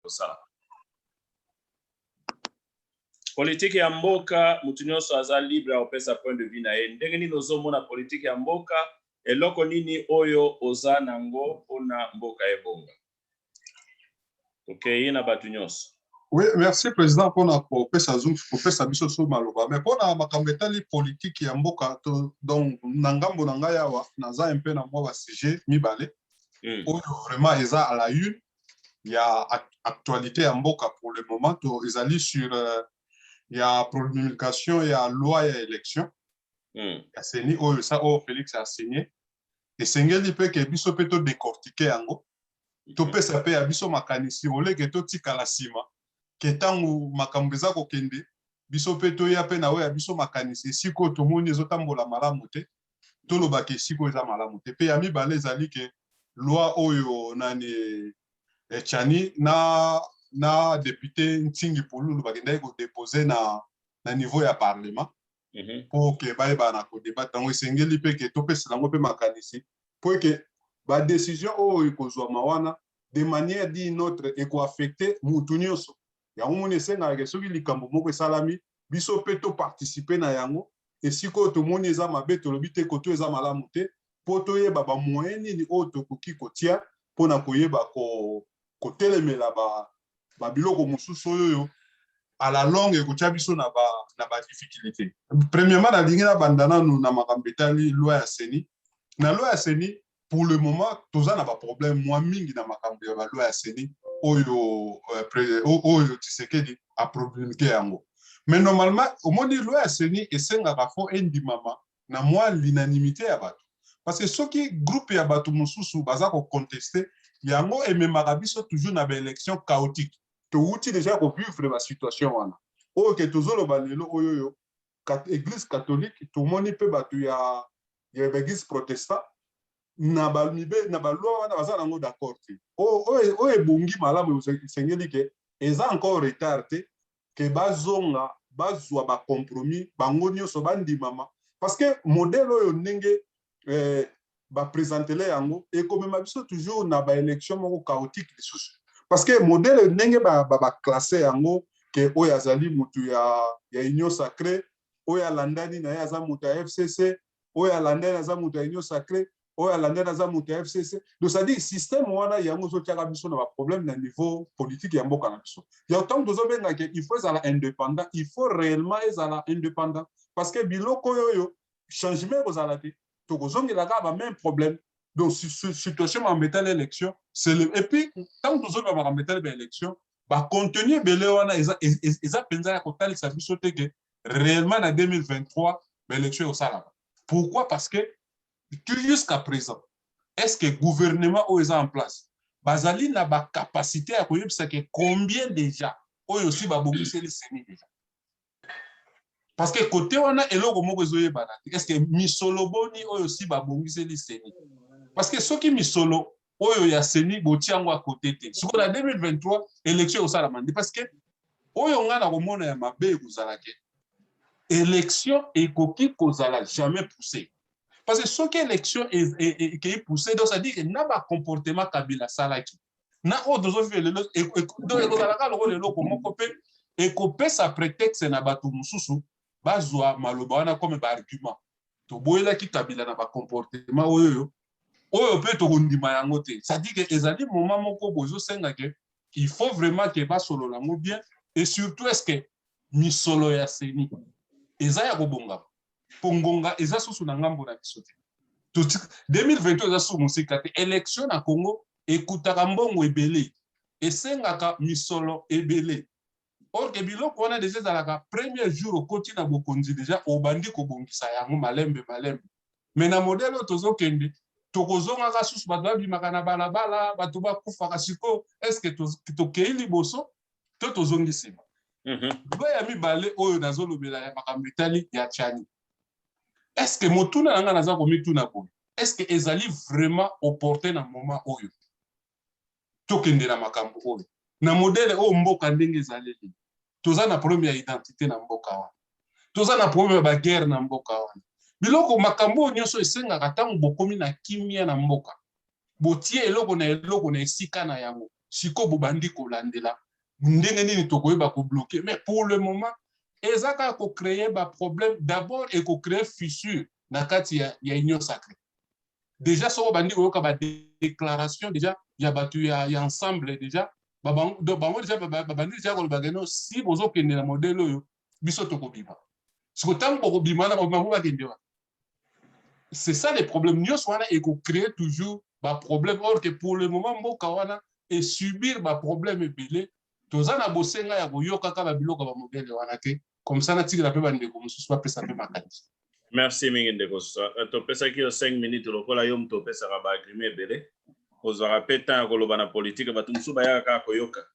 kosala politike ya mboka moto nyonso aza libre ya kopesa point de vue na ye ndenge nini ozomona politike ya mboka eloko nini oyo oza na ngo mpona mboka ebonga tokei okay, na bato nyonso Oui, merci président mpona kopesa zoom kopesa biso so maloba mais mpona makambo etali politike ya mboka to donc na ngambo na ngai awa naza mpe na mwa basujet mibale mm. oyo vraiment eza à la une ya actualite ya mboka pour le moment to ezali sur euh, ya promulgation ya loi ya élection mm. ya seni oyo sa oyo Felix a signé esengeli mpe ke biso mpe to décortiquer yango hmm. topesa mpe ya biso makanisi oleke totikala nsima ke ntango makambo eza kokende biso mpe toya mpe na oyo ya biso makanisi esika oyo tomoni ezotambola malamu te toloba ke esika oyo eza malamu te mpe ya mibale ezali ke loi oyo nani echani eh, na na depute ntingi pululu bakendaki kodepose na na niveau ya parlement mhm. mpo ke bayebana na kodeba ntango esengeli mpe ke topesela yango mpe makanisi mpo eke badesizio oyo ekozwama wana de manière di notre ekoaffecte motu nyonso yango moni esengaka ke soki likambo moko esalami biso mpe toparticipe na yango esika oyo tomoni eza mabe tolobi te koto eza malamu te mpo toyeba bamoyen nini oyo tokoki kotia mpo na koyeba ko kotelemela ba, ba biloko mosusu oyo à la longue ekotya biso na ba, na ba difficulté. Premièrement, nalingi nabanda nanu na makambo etali loi ya CENI. Na loi ya CENI, pour le moment toza na ba problème mwa mingi na makambo ya ba loi ya CENI oyo euh, oyo Tshisekedi a promulguer yango. Mais normalement omoni loi ya CENI esengaka fo endimama na mwa l'unanimite ya bato parce que soki groupe ya bato mosusu baza ko contester yango ememaka biso toujours na ba elections chaotiques. Towuti dejà ko vivre ba situations wana oyo ke tozoloba lelo oyo oyo eglise catholique tomoni mpe bato ya ya ba eglise protestant na ba mibe na ba loi wana baza na yango d'accord te oyo oyo ebongi malamu esengeli ke eza encore retard te que bazonga bazua ba compromis bango nioso bandimama parce que modele oyo ndenge ba presentele yango ekomema biso toujours na ba election moko chaotique lisusu parce que modele ndenge ba ba classe yango que oyo azali mutu ya ya union sacree oyo alandani na ye aza moto ya fcc oyo alandani aza moto ya union sacre oyo alandani aza moto ya fcc donc cetadire systeme wana yango ezotyaka biso na baproblème na niveau politique ya mboka na biso ya ntango tozobengake il faut ezala indépendant il faut réellement ezala indépendant parce que biloko oyo oyo changement ekozala te tokozongela kaka bameme problème donc situation makambo etali élection et puis ntango tozoloba makambo etali baélection bacontenu ebele wana eza mpenza ya kotalisa biso te ke réellement na 2023 ba élection ekosalama pourquoi parce que tu jusqu'à présent est ce que gouvernement oyo eza en place bazali na bacapacité ya koyebisa ke combien déjà oyo si babongiseli seni déjà parce que kote wana eloko moko ezoyebana te est ce que misolo boni oyo si babongiseli seni parce que soki misolo oyo ya seni botia yango à cote te sikoyo na 2023 election ekosalama nde parce que oyo ngai nakomona ya mabe ekozala ke election ekoki kozala jamais poussé parce que soki election ekei poussé donc cest dire ke na bacomportement kabila asalaki na oyo tozovivre lelo donc ekozalaka lokola eloko moko mpe ekopesa prétexte na bato mosusu bazwa maloba wana comme ba argument toboyelaki kabila na ba comportement oyo oyo mpe tokondima yango te cetadire ke ezali moment moko bozosenga ke il faut vraiment ke basolola yango bien et surtout est ce que misolo ya seni eza ya kobongama mpo ngonga eza susu na ngambo na biso te 2020 eza susu mosika te élection na congo ekutaka mbongo ebele esengaka misolo ebele Or que biloko wana dejà ezalaka premier jour okoti na bokonzi dejà obandi kobongisa yango malembe malembe. Mais na modèle oyo tozokende tokozongaka susu bato babimaka na balabala, bato bakufaka sikoyo est ce que tokei liboso to tozongi nsima? Mhm. Loi ya mibale oyo nazolobela ya makambo etali ya Tchani. Est ce que motuna na ngai naza komituna boye est ce que ezali vraiment opportun na moment oyo? tokende na makambo oyo na modele oyo mboka ndenge ezaleli toza na problème ya identité na mboka wana toza na problème ya baguerre na mboka wana biloko makambo oyo nyonso esengaka ntango bokomi na kimia na mboka botie eloko na eloko na esika na yango sikoyo bobandi kolandela ndenge nini tokoyeba kobloke mais pour le moment eza kaka kocreye baproblème d'abord ekocreye fissure na kati ya, ya union sacrée dejà soki obandi koyoka ba déclaration dejà ya bato ya, ya ensemble dejà bango dejà babandi dejà koloba keno si bozokende na modele oyo biso tokobima siko ntango bokobima na bango bakende wana c'est ça les problèmes nyonso wana ekocree toujours baproblème or que pour le moment mboka wana esubir baproblème ebele toza na bosenga ya koyokaka babiloko ya bamodele wana te comme ça natikela mpe bandeko mosusu bapesa mpe makanisi merci mingi ndeko euh, topesaki yo 5 minutes lokola yo moto opesaka baagrime ebele ozwaka mpe temps ya koloba na politike bato mosusu bayaka kaka koyoka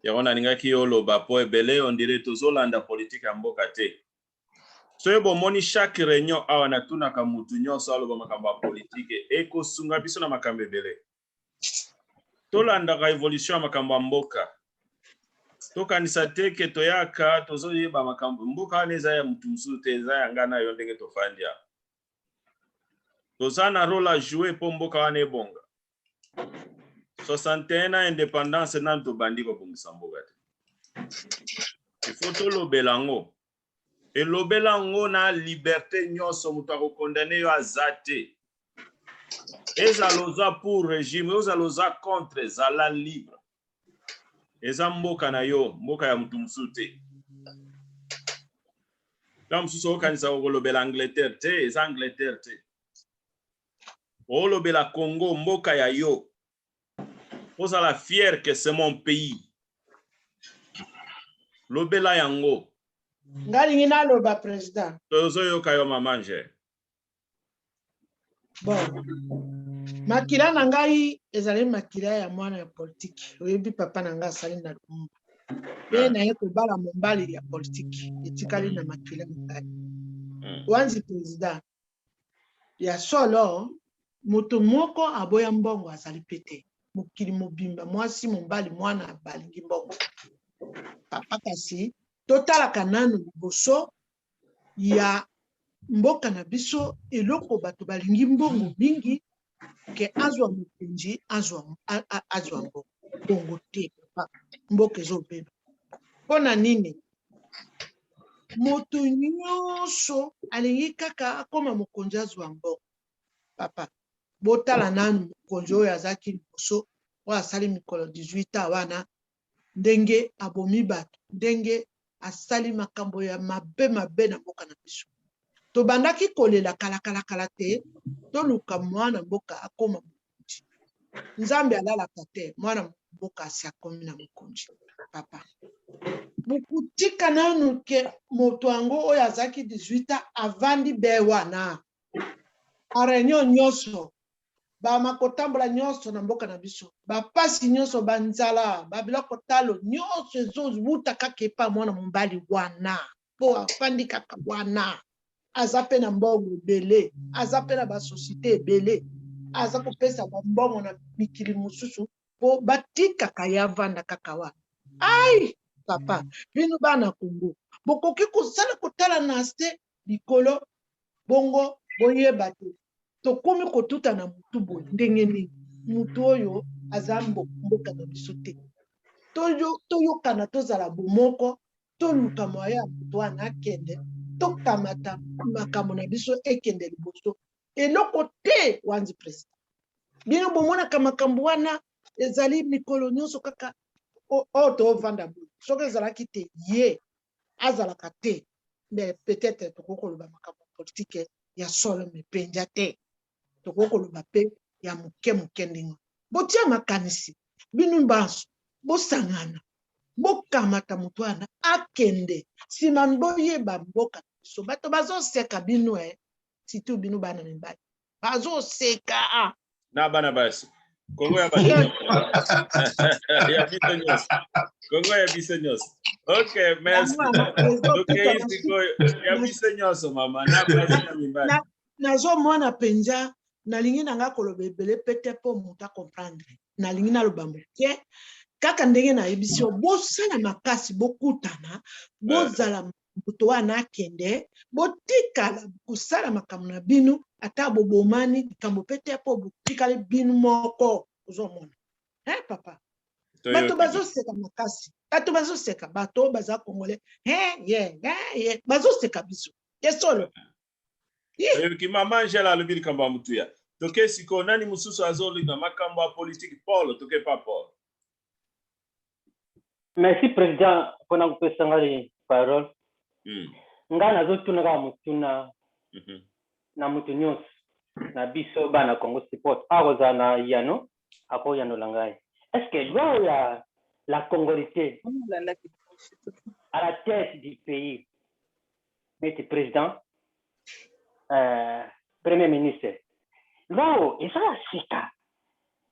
yango nalingaki yo oloba mpo ebele ondire tozolanda politike ya mboka te soki bomoni chaque réunion awa natunaka motu nyonso aloba makambo ya politike ekosunga biso na makambo ebele tolandaka evolution ya makambo ya mboka tokanisa te ke toyaka tozoyeba makambo mboka wana eza ya motu mosusu te eza ya ngai na yo ndenge tofandi ya toza na role a joue mpo mboka wana ebonga 61 na independance nanu tobandi kobongisa mboka te ifo tolobela yango Elobela yango na liberte nionso moto ako condamne yo aza te. Ezala oza pour regime ozala oza contre zala libre. Eza mboka na yo mboka ya moto mosusu te. Ntango mosusu okokanisa okolobela Angleterre te eza Angleterre te. Olobela Congo mboka ya yo. Ozala fier que c'est mon pays. Lobela yango. Nga lingi na loba president. Tozo yoka yo maman je. Bon. Makila na ngai ezali makila ya mwana ya politique. Oyebi papa na ngai asali na Lumumba. Pe ah. naye kobala mobali ya politique etikali na makila na ngai. Hmm. Wanzi president. Ya solo, moto moko aboya mbongo azali mpe te. Mokili mobimba, mwasi, mobali, mwana balingi mbongo. Papa, kasi totalaka nanu liboso ya mboka na biso, eloko bato balingi mbongo mingi ke azwa mokonzi azwa azwa ngo bongo te papa mboka ezobeba mpo na nini moto nyonso alingi kaka akoma mokonzi azwa mbongo papa botala nanu mokonzi oyo azalaki liboso oyo asali mikolo 18 ans wana ndenge abomi bato, ndenge asali makambo ya mabe mabe na mboka na biso. Tobandaki kolela kalakala-kala te, toluka mwana mboka akoma mokonzi. Nzambe alalaka te, mwana mboka asi akomi na mokonzi. Papa, bokotika nanu ke moto yango oyo azalaki 18 ans avandi be wana a reunion nyonso bama kotambola nyonso na mboka na biso bapasi nyonso banzala babiloko talo nyonso ezowuta kaka epa mwana mobali wana mpo afandi kaka wana aza mpe na mbongo ebele aza mpe na basosiete ebele aza kopesa bambongo na mikili mosusu mpo batikaka ye avanda kaka wana ai papa bino bana kongo bokoki kosala kotala na se likolo bongo boyeba te tokomi kotuta na motu boye ndenge nini motu oyo aza mboka na biso te toyokana tozala bomoko toluka moya ya motu wana akende tokamata makambo na biso ekende liboso eloko te wanzi president bino bomonaka makambo wana ezali mikolo nyonso kaka oyo tovanda boye soki ezalaki te ye azalaka te mais peut-être tokoki koloba makambo ya politike ya solo me mpenja te tokoki koloba mpe ya moke moke ndenge botia makanisi bino banso bosangana bokamata moto wana akende nsima boyeba mboka biso bato bazoseka bino e eh. situ bino bana mibali bazoseka ah. na bana basi kongo ya basi ya biso nyonso kongo ya biso nyonso ok merci tokei sikoyo ya biso nyonso mama na basi na mibali nazomona mpenza nalingi na ngai koloba ebele mpe te mpo moto acomprendre nalingi naloba moke kaka ndenge nayebisi yo bosala makasi bokutana bozala moto wana akende botikala kosala makambo na bino ata bobomani likambo mpe te mpo botikali bino moko ozomona he eh, papa bato bazoseka makasi bato bazoseka bato oyo baza kongole he eh, ye he eh, ye bazoseka biso ya solo oyoki mama angela alobi likambo ya motuya toke sikoyo nani mosusu azolinga makambo ya politike paul toke pa paul merci président mpona kopesa ngai parole mm. ngai nazotuna kaka motuna mm -hmm. na moto nyonso na biso bana congo support akozala na yano akoyanola ngai est ce que loi ya la congolité à la tête du pays neti president uh, premier ministre loo eza ya sika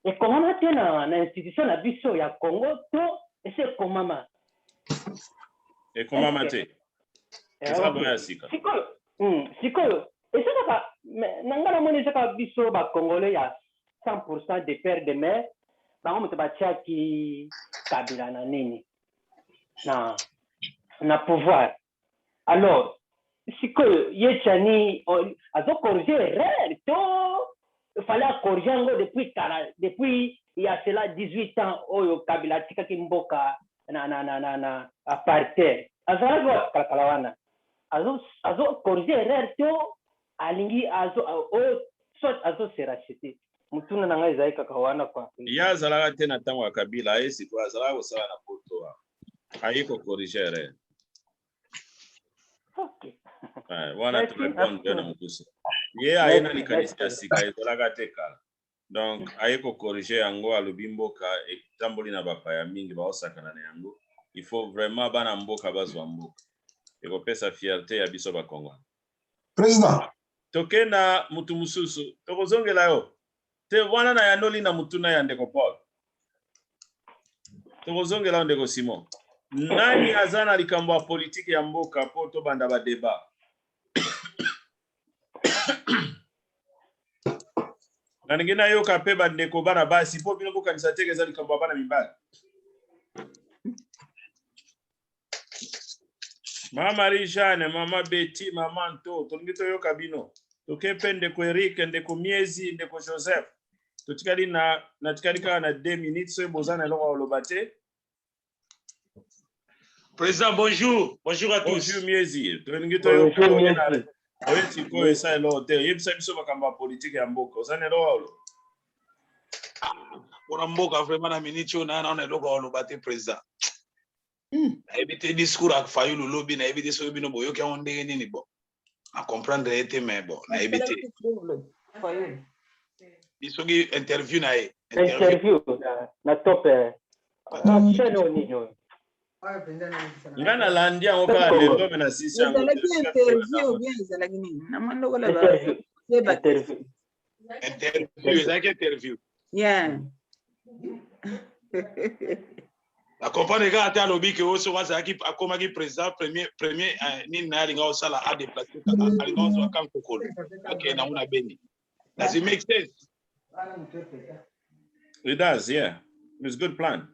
ekomama te na, na institution na biso ya congo to esi ekomama ekomama te eh, eza boya ya sika sikoyo hmm, sikoyo eza kaka na ngai namoni eza kaka biso bacongolais ya 100 pourcent de père de mare bango moto batiaki kabila na nini na na pouvoir Alors sikoyo ye Tshani azo corriger erreur to fallait a corriger yango depuis kala depuis il y a cela 18 ans oyo Kabila atikaki mboka na na na na na apartheid azalaki wapi kala kala wana azo azo corriger erreur to alingi azo o soit azo se racheter mutuna na ngai ezali kaka wana kwa ye azalaka te na tango ya Kabila ye sikoyo azalaka kosala na poto wana aye ko corriger erreur Okay. Eh, wana Merci, tunakuwa ndio na mokuse ye aye na likanisi ya sika ezalaka te kala donc aye kokorige yango alobi mboka etamboli na bapaya mingi baosakana na yango il faut vraiment bana mboka bazwa mboka ekopesa fierte ya biso bakongona président toke na motu mosusu tokozongela yo Te, wana nayanoli na motuna ya ndeko Paul. Tokozongela yo ndeko Simon. Nani aza na likambo ya politiki ya mboka mpo tobanda ba debat? nalingi nayoka mpe bandeko bana basi mpo bino bokanisa teke eza likambo ya bana mibali ma marie jeanne mama beti mama nto tolingi toyoka bino toke mpe ndeko erik ndeko miezi ndeko joseph totikali na natikali kaka na 2 minutes soki boza na eloko ya koloba te Président, bonjour. Bonjour à tous. bonjour miezi tolingi Bonjour, toyoka oye na Miezi. oye sikoyo esa eloko te yebisa biso makambo ya politike ya mboka oza na eloko ya koloba mpona ah, mboka vraiment na miniti oyo naya nao na eloko aloba te président hmm. nayebi te discours ya fayulu lobi nayebi te soki bino boyoki yango ndenge nini bon na comprendre ye te mais bon nayebi te soki interview na ye interview na top eh. nga nalandi yango kaka lelo me na sisi yango Interview, ezalaki interview. Yeah. na comprendre kaka te alobi ke oyo soki azalaki akomaki président premier premier eh, nini naye alinga osala adeplace alinga ozwa kan kokolo akende nango na beni does it make sense it does yeah it's good plan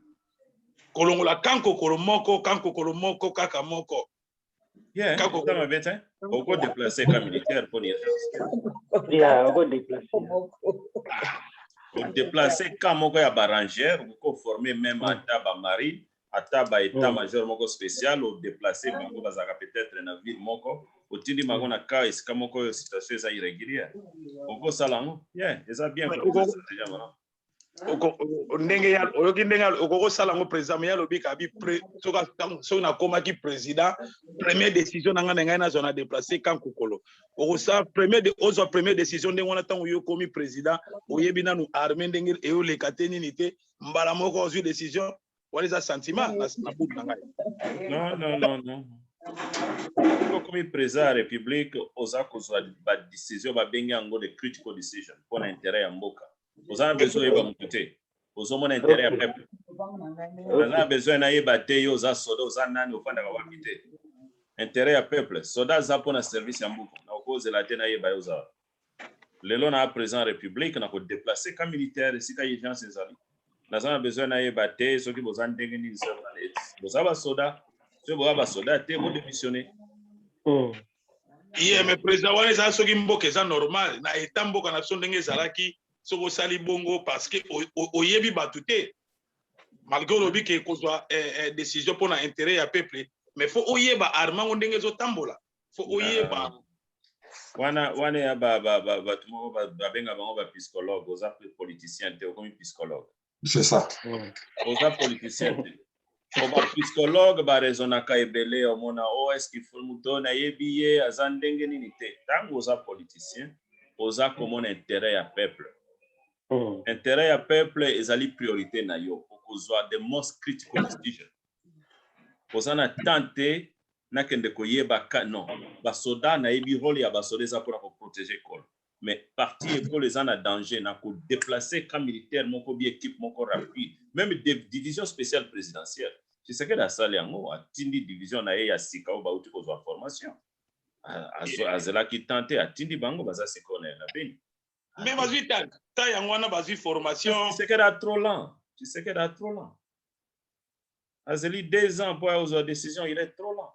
kolongola kan kokolo moko kan kokolo moko kaka moko Yeah, Kako- eza mabe te. Oko deplacer ka militaire mpo ni ya oko deplace odeplace ka moko ya barangere oko forme meme ata bamarine ata ba état major moko spécial odeplace bango bazalaka peut-être na ville moko otindi bango na ka esika moko oyo situation eza irrégulière okosala yango ye eza bien Ouais, koza oko- stratégie ya malamu. ndenge ya oyoki ndenge okoki osala yango président me ya lobi kabi soki nakomaki président première décision na ngai na ngai nazwa na déplace kan kokolo okosala premier ozwa première décision ndenge wana ntango yo okomi président oyebi nanu armée ndenge eyoleka te nini te mbala moko ozwi décision wana eza sentiment na butu na ngai non non non non okomi président ya république oza kozwa badécision babengi yango de critical decision mpo na intérêt ya mboka oza na besoin oyeba motu te ozomona intere ya peuple oza na besoin nayeba te yo oza soda oza nani ofandaka wapi te intere ya peuple soda aza mpo na service ya mbuku na okozela te nayeba yo ozala lelo na président ya république na kodeplace ka militaire esika urgence ezali naza na besoin nayeba te soki boza ndenge nini boza basoda soki boza basoda te bodemissionne hmm. ye me président wana eza soki mboka eza normal na eta mboka na biso ndenge ezalaki soki osali bongo parce que oyebi bato te malgré olobi ke kozwa eh, eh, décision mpo na intérêt ya peuple mais fo oyeba arme yango ndenge ezotambola fo oyeba wana wana ya bato moko babenga bango bapsychologue oza politicien te okomi psychologue c'est ça oza politicien te ba psychologue baraisonaka ebele omona o oh, eske fo moto oyo nayebi ye aza ndenge nini te ntango oza politicien oza komona intérêt ya peuple mm. intérêt ya peuple ezali priorité na yo okozwa the most critical decision oza na temps te nakende koyeba non basoda nayebi role ya basoda eza mpona koprotege ekolo Mais partie ekolo eza na danger na ko deplacer camp militaire moko oubien equipe moko rapide. Meme division speciale presidentielle, Tshisekedi asali yango, atindi division na ye ya sika oyo bawuti kozua formation. Azelaki temps te, atindi bango, baza sikoyo na Beni. Mais bazui temps te, yango wana bazui formation. Tshisekedi a trop lent, Tshisekedi a trop lent. Azeli deux ans po aya kozua decision, il est trop lent.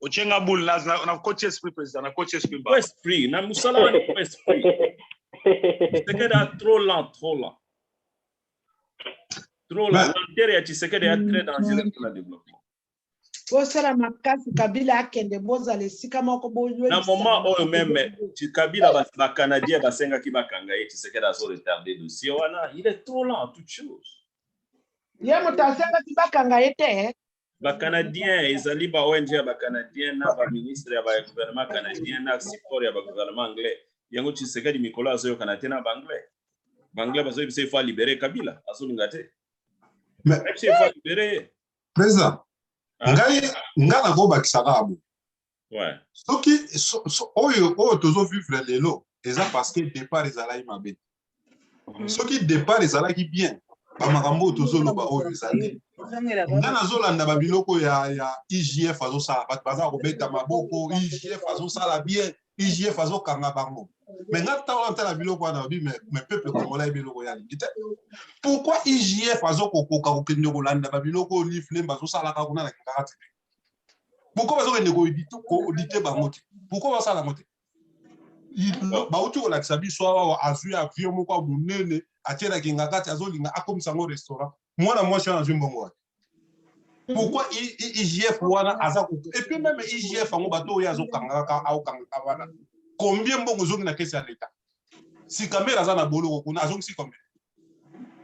otie nga boule nakoti esprit président nakoti esprit mba esprit na mosala wana eko esprit tshisekedi a trop lent trop lent trop lent lenteur ya tshisekedi ya très dangereux pour la développement bosala makasi kabila akende bozala esika moko boyna moment oyo meme kabila bacanadien basengaki bakanga ye tshisekedi azo retarde dossier wana il est trop lent toute chose ye moto asengaki bakanga ye te ba canadiens ezali ba ong ya ba canadiens na ba ministre ya ba gouvernement canadien na support ya ba gouvernement anglais yango tshisekedi mikolo azoyokana te na ba anglais ba anglais bazoyebisa ifo alibere kabila azolinga te Mais- ayebisa ifo alibere ye président Ah. ngai ngai nakobakisaka abo soki oyo oyo tozo vivre lelo eza parce que départ ezalaki mabe mhm. soki départ ezalaki bien bamakambo oyo tozoloba oyo ezali nga nazolanda babiloko ya ya igf azosala bato baza kobeta maboko igf azosala bien igf azokanga bango me nga ntango natala biloko wana babi me peuple congolais yebi eloko ya lingi te pourquoi igf azokokoka kokende kolanda babiloko oyo liflembe azosalaka kuna na kingakati pourquoi bazokende kodite bango te pourquoi basala yango te bauti kolakisa biso awa azwi avion moko ya monene atielaki nga kati azolinga akomisa yango restaurant mwana mwasi wana azwi mbongo wapi mhm. pourquoi igf wana aza epuis meme igf yango bato oyo azokanga kaka aokangaka wana combien mbongo ezongi na kesi ya leta sikamere aza na boloko kuna azongisi combien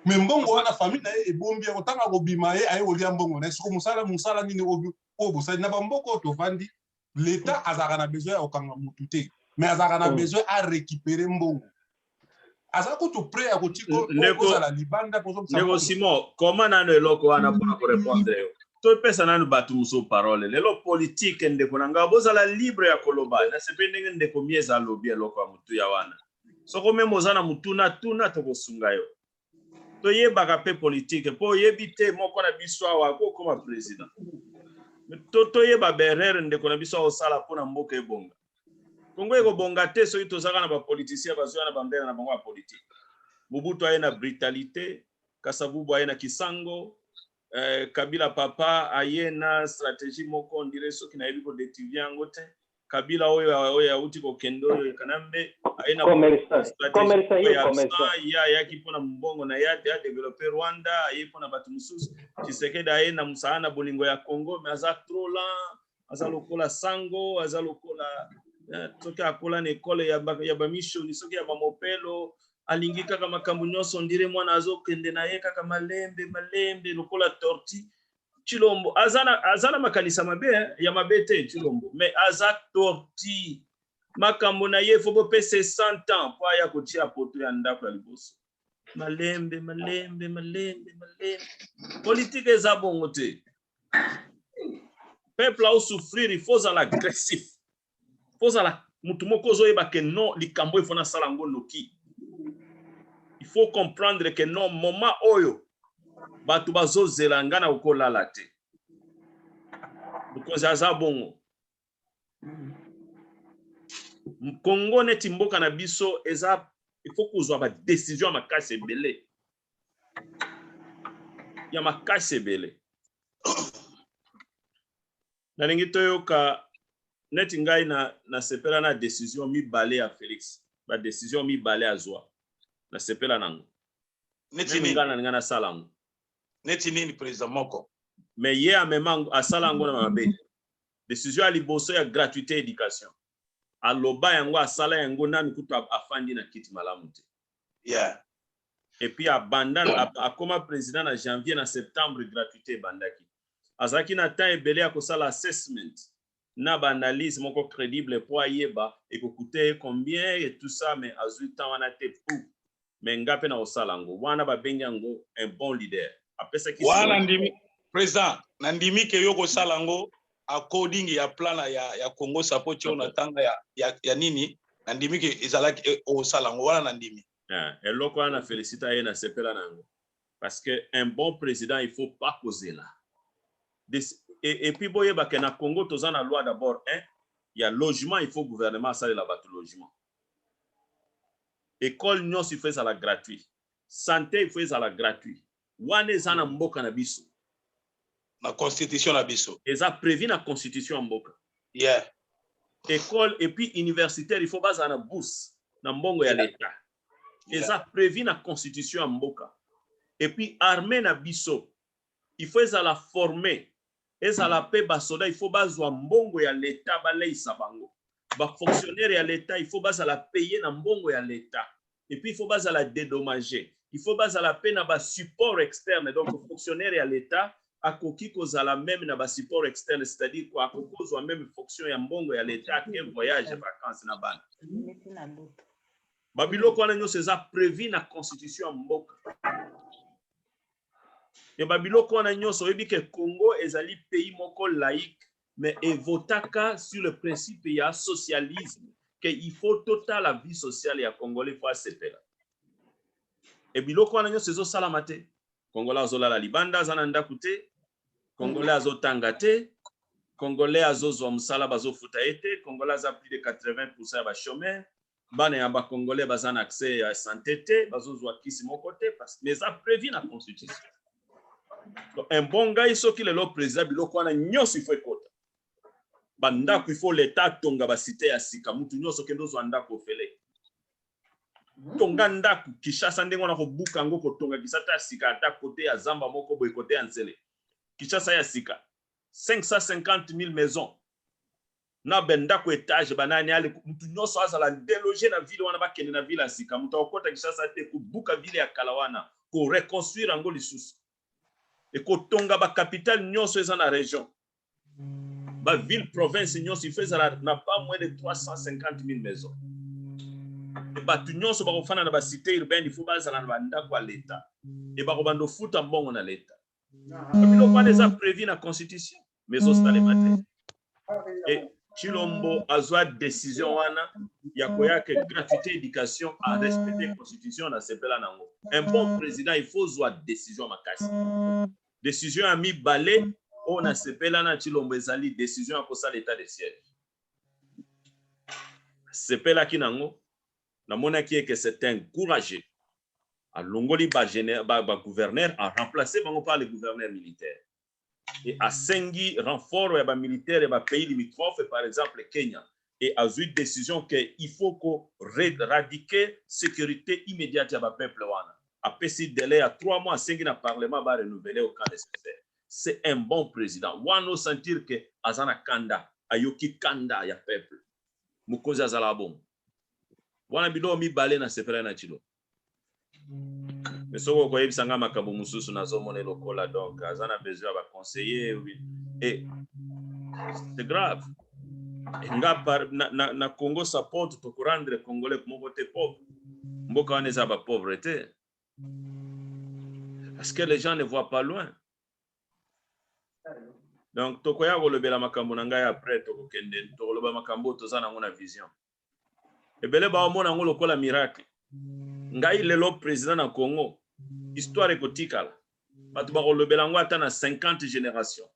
me mbongo wana famille na ye ebombi yango ntango akobima ye aye kolia mbongo na ye soko mosala mosala nini oyo bosali na bamboka oyo tovandi leta azalaka na besoin ya kokanga motu te me azalaka na oh. besoin arécupere mbongo aza kutu prêt ya kotikozala libanda ndeko simon koma nano eloko wana mpona korepondre yo topesa nano bato mosusu parole lelo politike ndeko na ngai bozala libre ya koloba nasepeli ndenge ndeko mieza alobi eloko ya motuya wana soko meme oza na motuna tuna tokosunga yo toyebaka mpe politike mpo oyebi te moko na biso awa akokoma president to toyeba berere ndeko na biso aosala mpo na mboka ebonga kongo ekobonga te soki tozaka na bapolitisien bazwi wana bambele na bango ya politike mobutu aye na brutalité kasavubu aye na kisango eh, kabila papa aye na stratégie moko ndire soki nayebi kodetivie yango te Kabila oyo oyo auti kokende oyo Kanambe aye na ye ayaki mpo na mbongo na ye ate adevelope Rwanda aye mpo na bato mosusu Tshisekedi aye na mosala na bolingo ya Congo me aza trop lent aza lokola sango aza lokola eh, soki akola na ekole ya bamishoni soki ya bamopelo alingi kaka makambo nyonso ndire mwana azokende na ye kaka malembe malembe lokola torti Tshilombo aza na aza na makanisi ya mabe hein? ya mabe te Tshilombo mais aza tortue makambo na ye faut bopesa 100 ans mpo aya kotia poto ya ndako ya liboso malembe malembe malembe malembe politike eza bongo te peuple au souffrir il faut ozala agressif faut ozala mutu moko ozoyeba que non likambo oyo faut nasala yango noki il faut comprendre que non moment oyo bato bazozela ngai nakoki kolala te mokonzi aza bongo kongo neti mboka na biso eza il faut kozwa badecision ya makasi ebele ya makasi ebele nalingi toyoka neti ngai na nasepela na decision mibale ya Felix ba decision mibale azwa nasepela nango neti nini ngai nalinga nasala yango neti nini president moko me ye amema asala yango na mabe decision ya liboso ya gratuité éducation aloba yango asala yango nanu kutu afandi na kiti malamu te yeah. et puis abanda akoma président na janvier na septembre gratuité ebandaki azalaki na temps ebele ya kosala assessment na baanalyse moko crédible mpo ayeba ekokute ye combien et tout ça mais azwi temps wana te pou mais nga mpe nakosala yango wana babengi yango un bon leader apesaki wana ndimi président nandimi ke yo kosala yango according ya plan ya, ya Congo sapo tio na tanga ya, ya, ya nini na ndimi ke ezalaki e, osala yango wana na ndimi yeah. eloko wana felicita ye na sepela na yango parce que un bon président il faut pas kozela et, et puis boyeba ke na Congo toza na loi d'abord un ya logement il faut gouvernement asalela bato logement école nyonso il faut ezala gratuit santé il faut ezala gratuit Wana eza na mboka na biso. Na constitution na biso. Eza prevu na constitution ya mboka. Yeah. Ecole et puis universitaire il faut bazala na bourse na mbongo ya leta. Eza prevu na constitution ya mboka. Et puis armee na biso il faut ezala former ezala pe ba soda il faut bazwa mbongo ya l'etat baleyisa bango ba fonctionnaire ya l'etat il faut bazala paye na mbongo ya l'etat et puis il faut bazala dedommage il faut bazala pe na ba support externe donc fonctionnaire ya l'etat akoki kozala meme na ba support externe c'est à dire quoi akoki kozwa meme fonction ya mbongo ya l'etat ake voyage vacance na bana ba biloko wana nionso eza prevu na constitution ya mboka. mais ba biloko wana nyonso oyebi ke Congo ezali pays moko laïque mais evotaka sur le principe ya socialisme que il faut totala vie sociale ya congolais po asepela e biloko wana nyonso ezosalama te congolais azolala libanda aza na ndako te congolais azotanga te congolais azozwa mosala bazofuta ye te congolais aza plus de 80 pourcent ya bachomeur bana ya ba congolais baza na accès ya sante te bazozwa kisi moko te parce mais eza prévu na constitution Donc, un bon ngai soki lelo président biloko wana nyonso ifo ekota bandako ifo leta atonga basite ya sika mutu nyonso okende ozwa ndako ofele tonga ndako kishasa ndenge wana kobuka yango kotonga kisata ya sika ata kote ya zamba moko boye kote ya nzele kishasa ya sika 550 000 maison na ba ndako etage ba nani ale mutu nyoso azala deloge na ville wana ba kende na ville ya sika mutu akokota Kinshasa te kobuka ville ya kala wana ko reconstruire yango lisusu et kotonga ba capitale nyoso eza na region ba ville province nyoso il faut ezala na pas moins de 350000 maisons et batu nyoso bakofana na ba cité urbaine il faut bazala na ba ndako ya l'etat et bakobanda ofuta mbongo na l'etat biloko wana eza prevu na constitution mais ezosalema te e chilombo azwa décision wana ya koya ke gratuité éducation a respecte constitution na sepela nango un bon président il faut zwa décision makasi décision ya mibale oyo na sepela na chilombo ezali décision ya kosala état de siège sepelaki nango namonaki eke c'est un courageux alongoli ba, ba, ba gouverneur a remplacer bango par le gouverneur militaire et asengi renfort ya ba militaires ya ba pays limitrophes par exemple Kenya et azui decision que il faut ko radiquer securite immediate ya ba peuples wana. Apesi delai ya trois mois asengi na parlement ba renouveler au cas necessaire. C'est un bon president. Wana o sentir que aza na kanda, ayoki kanda ya peuples. Mokonzi azalaka bongo. Wana biloko mibale na sepelaki na Tshilombo. me soki okoyebisa ngai makambo mosusu nazomone lokola donc aza na besoin ya baconseiller e eh, c'est grave nga par, na, na, na congo support tokorendre congolais moko te pauvre mboka wana eza bapauvre te parce que les gens ne voient pas loin donc tokoya kolobela makambo na ngai après tokokende tokoloba makambo oyo toza nango na vision ebele baomona yango lokola miracle ngai lelo president na congo histoire ekotikala bato bakolobela yango ata na 50 génération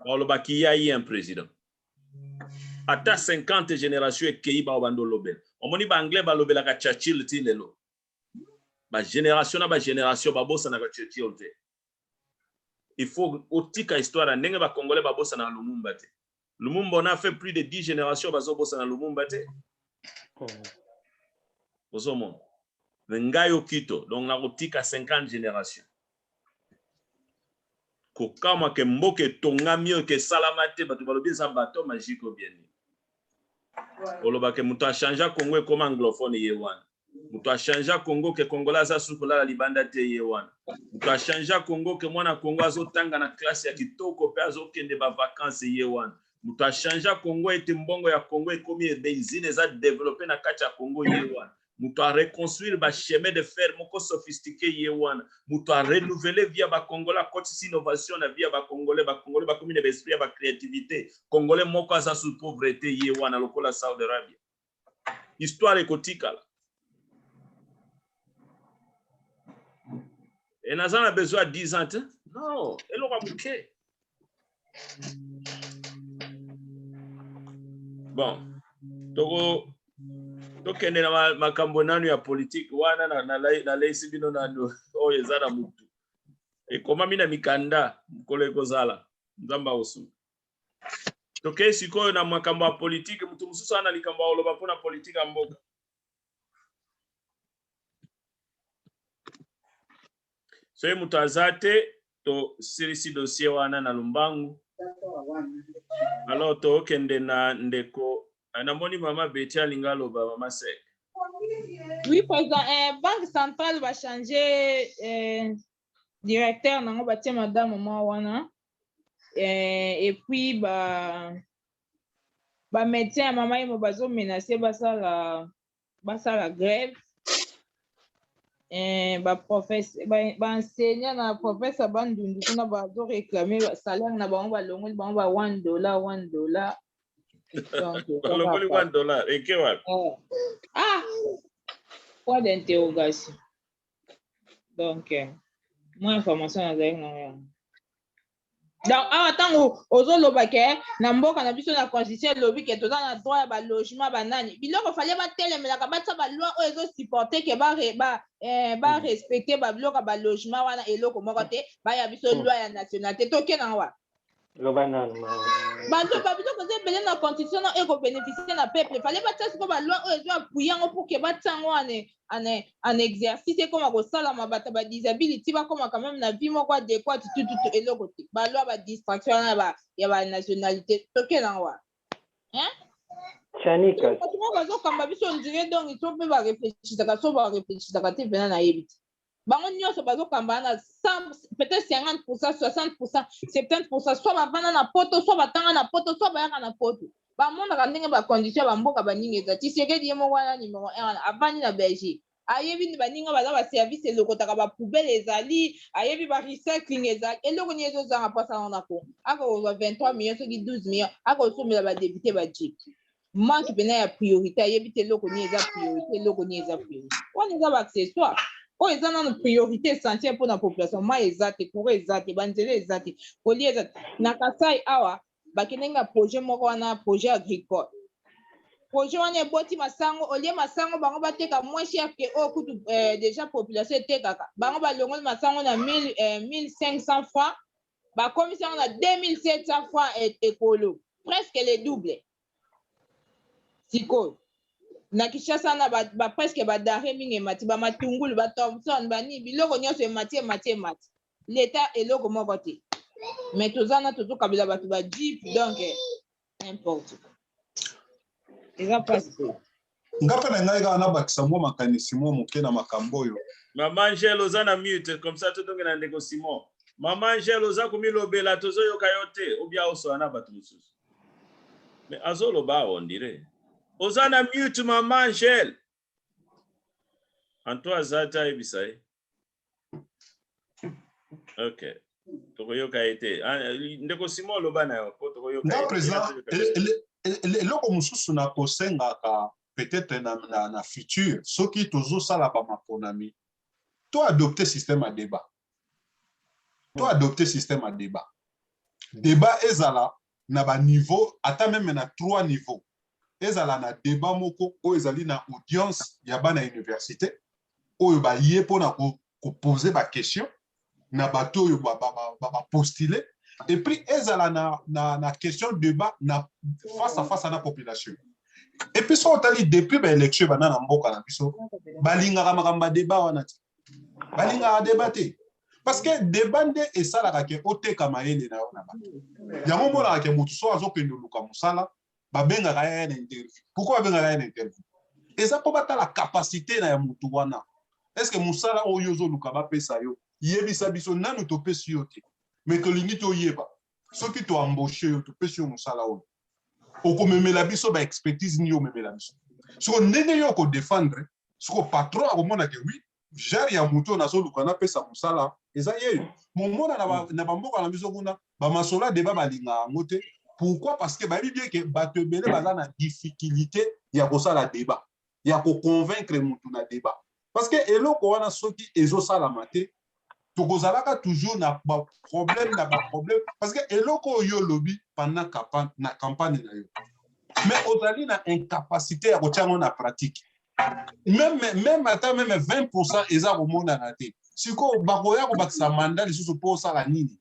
balobaki ya ye un président ata 50 génération ekei bao bando olobela omoni baanglais balobelaka churchill ti lelo bagénération na bagénération babosanaka churchill te il faut otika histoire ya ndenge ba congolais ba bosanaka lumumba te lumumba on a fait plus de 10 génération bazobosana lumumba te ozomona me ngai okito donc nakotika 50 génération kokamwa ke mboka etongami oyo kesalama te bato balobi eza bato magique obieni olobake moto achangea congo ekoma anglophone ye wana moto achangea congo ke congolais aza susu kolala libanda te ye wana moto achangea congo ke mwana congo azotanga na classe ya kitoko mpe azokende bavacance ye wana moto achangea congo ete mbongo ya congo ekomi ebenzine eza developpe na kati ya congo ye wana moto areconstruire bachemin de fer moko sophistique ye wana moto arenouvele via bacongolais akotisi innovation na via bacongolais bacongolais bakomi na baesprit ya bacreativité congolais moko aza sous pauvreté ye wana lokola saudi arabia histoire ekotikala e naza na besoin ya 10 ans te non eloko ya moke bon toko tokende na ma- makambo nanu ya politike wana na- na- na- naleisi bino nanu oyo eza na motu ekomami na mikanda mokolo ekozala nzambe akosunga tokei sikoyo na makambo ya politike moto mosusu aa na likambo ya koloba mpona politike ya mboka soki moto aza te tosilisi dossier wana na lombangu alors tokende na ndeko eh, namoni mama beti alinga aloba mama sek oui président eh, banque centrale bachange eh, directeur na yango batie madame mwa wana eh, et puis ba ba médecin ya mama yemo bazomenace basala basala grève eh, baenseignant na professeur bandundu kuna bazoreklame salaire na bango balongoli bango ba 1 dollar 1 dollar balongoli 1 dollar eke wapi eh. ah point d'interrogation donc euh, mwa information nazali na yango donc awa ntango ozoloba ke na mboka na biso na constitution elobi ke toza na droit ya balogement banani biloko fale batelemelaka batya baloi oyo ezosupporte ke barespecte eh, babiloko ya balogement wana eloko moko te baya biso loi ya nationalité tokena wa Loba nanu maman. Bazoba biloko eza ebele na constitution na eko beneficier na peuple fallait batia siko ba loi oyo ezo appuyer yango pour que batia yango en, en, en exercice ekoma kosalama bato ba disability bakoma quand même na vie moko adequate tututu eloko te ba loi ba distraction wana ya ba, ya ba nationalité toke na wa hein Chanika. bato moko bazokamba biso ondire donc il faut mpe bareflechisaka so bareflechisaka te mpena nayebi te bango nyonso bazokambana na 100 peut-être 50 pourcent 60 pourcent 70 pourcent soit bavanda na poto soit batanga na poto soit bayaka na poto bamonaka ndenge bacondition ya bamboka baninga eza tisekedi ye moko wana numero 1 wana avandi na belgique ayebi nde baninga baza baservice elokotaka bapoubele ezali ayebi barecycling ezali eloko nini ezozanga mpo asala yango na congo akokozwa 23 million soki 12 million akosombela badepute bajip manque pena ya priorité ayebi te eloko nini eza priorité eloko nini eza priorité wana eza baaccessoire oyo eza nano priorité essentielle mpona population mai eza te coura eza te banzela eza te kolia eza te na kasai awa bakendaki na projet moko wana projet agricole projet wana eboti masango olie masango bango bateka moins cher ke oyo oh, kutu eh, déjà population etekaka bango balongoli masango na 1500 eh, francs bakomisi yango na 2700 francs et ekolo presque le double sikoyo na kinshasa wana ba, ba presque badare mingi emati bamatungulu bathomson banini biloko nyonso emati emati emati leta eloko moko te mais toza na tozokabela bato bajipe donc N'importe quoi. Eza pasi pe. Nga pe na ngai kaka nabakisa mwa makanisi mwa moke na makambo oyo. Maman Angèle oza na mute comme ça tozonga na ndeko Simon. Maman Angèle oza komilobela tozoyoka yo te ou bien osola na bato mosusu. Mais azoloba awa on dirait. Oza na mute maman Angèle. Anto aza te ayebisa ye. Ok. Tokoyoka ye te. Ah, ndeko Simon oloba na yo po tokoyoka. Nga president eloko mosusu na kosengaka peut-être na, na, na futur soki tozosala bamaponami to adopte système ya débat to adopte système ya debat debat ezala na ba niveau ata meme na trois niveau ezala na debat moko oyo ezali na audience ya bana université oyo baye mpona kopose ba question na bato oyo bapostule ba, ba, ba epuis ezala na, na, na question debat na face à face na population epuis soki otali depuis baélection ebanda na mboka na biso balingaka makambo ya debat wana te balingaka deba te parce que deba nde esalaka ke oteka mayele na yo na bato yango omonaka ke moto so azokende oluka mosala babengaka ye na interview pourkui babengaka ye na interview eza mpo batala kapasite na ya motu wana eske mosala oyo ozoluka bapesa yo yebisa biso nanu topesi yo te me tolingi toyeba soki toamboshe yo topesi yo mosala oyo okomemela biso baexpertise nini omemela biso soko ndenge yo okodefendre siko patron akomona ke oui genre ya moto nazoluka napesa mosala eza yeyo momona na, ba, mm. na bamboka na biso kuna bamasola deba balinga yango te pourquoi parce que bayebi bien ke bato ebele baza na difficulté ya kosala deba ya koconvaincre motu na deba parce que eloko wana soki ezosalama te tokozalaka toujours na ba problème na ba problème parce que eloko oyo olobi pendant campagne na campagne na yo mais ozali na incapacité ya kotia yango na pratique même même ata même 20 pourcent eza komonana te sikoyo bakoya kobakisa manda lisusu mpo osala nini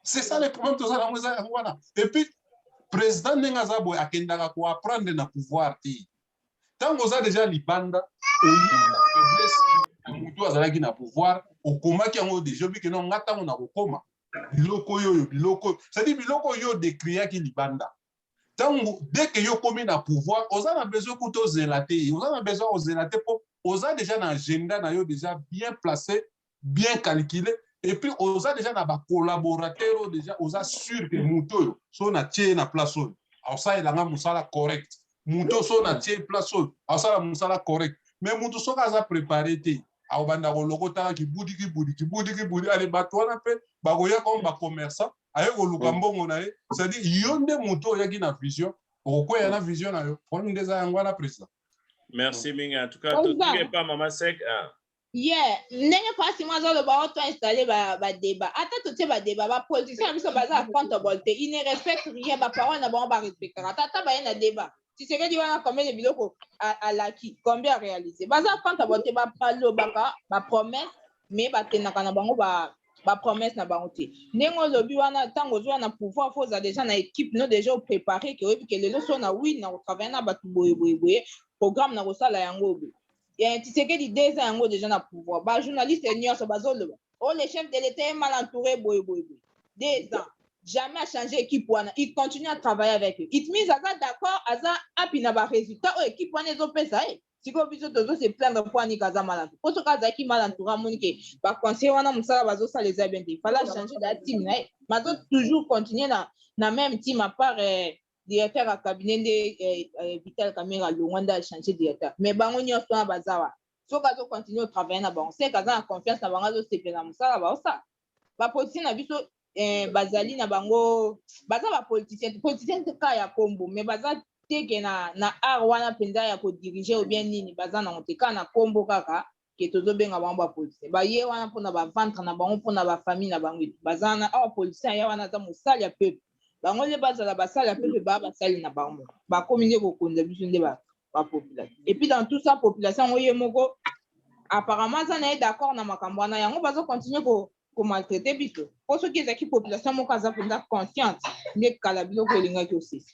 c'est ça le problème toza nango eza yango wana et puis président ndenge aza boye akendaka koapprendre na pouvoir te ntango oza deja libanda oyina faiblesse ya motu azalaki na pouvoir okomaki yango deja obike no nga ntango nakokoma biloko yoyo biloko cetadire biloko yo decriaki libanda ntango deke yo okomi na pouvoir oza na besoin kuta ozela te oza na besoin ozela te mpo oza deja na agenda na yo deja bien place bien calcule et puis oza deja na ba collaborateur oyo deja oza sur que moto oyo so na tie na place oyo akosalela nga mosala correct moto so na tie place oyo akosala mosala correct mais moto soki aza prepare te akobanda kolokotaka kibudi kibudi kibudi kibudi ale bato wana mpe bakoya comme ba commerçant aye koluka mbongo na ye c'est-à-dire yo nde moto oyaki na vision okokweya na vision na yo problème nde eza yango wana président merci mingi en tout cas totika epa mama sek ah. Yeah ndenge pasi mwa azo loba o to installer ba ba debat ata to tie ba debat ba politiciens na biso baza accountable te il ne respecte rien ba parole na bango ba respectaka te ata baye na debat tshisekedi wana combien de biloko alaki combien a realiser baza accountable te ba lobaka ba promesse mais ba tenaka na bango ba ba promesse na bango te ndenge olobi wana ntango ozwa na pouvoir fo oza deja na équipe no deja oprépare ke oyebi ke lelo so na win na kotravaille na bato boye boye boye programme na kosala yango boye Eh, Tshisekedi deux ans yango deja na pouvoir. Ba journalistes nyonso bazoloba. Oh le chef de l'etat est mal entouré boye boye boye. Deux ans. Jamais a changer équipe wana. Il continue à travailler avec eux. It means aza d'accord, aza happy na ba résultats oyo équipe wana ezopesa ye. Sikoyo biso tozo se plaindre mpo ani kaza mal entouré. Mpo soki azalaki mal entouré amoni ke ba conseillers wana mosala bazosala eza bien te. Il fallait a changer da team na ye. Mais azo toujours continuer na na même team à part eh, directeur ya cabinet nde eh, eh, vital kamere alongwa nde achange directeur mais bango nyonso wana baza wa soki azo continue otravaille na bango seke aza na confiance na bango azosepela na mosala baosala bapoliticien na biso eh, bazali na bango baza bapoliticien politicien te ka ya kombo mais baza teke na, na art wana mpenza ya kodirige obien nini baza nango te ka na kombo kaka ke tozobenga bango ba politicien baye wana mpona ba ventre na bango mpona ba famille na bango etu baza wana awa politicien aya wana aza mosali ya peuple bango nde bazala basali ya peuple baa basali na bango bakomi nde kokonza biso nde ba, ba population epuis dans tout ça population yango ye moko apparemment aza na ye d'accord na makambo wana yango bazo continue ko komaltraite biso mpo soki ezalaki population moko aza mpenza consciente nde kala biloko elingaki osisa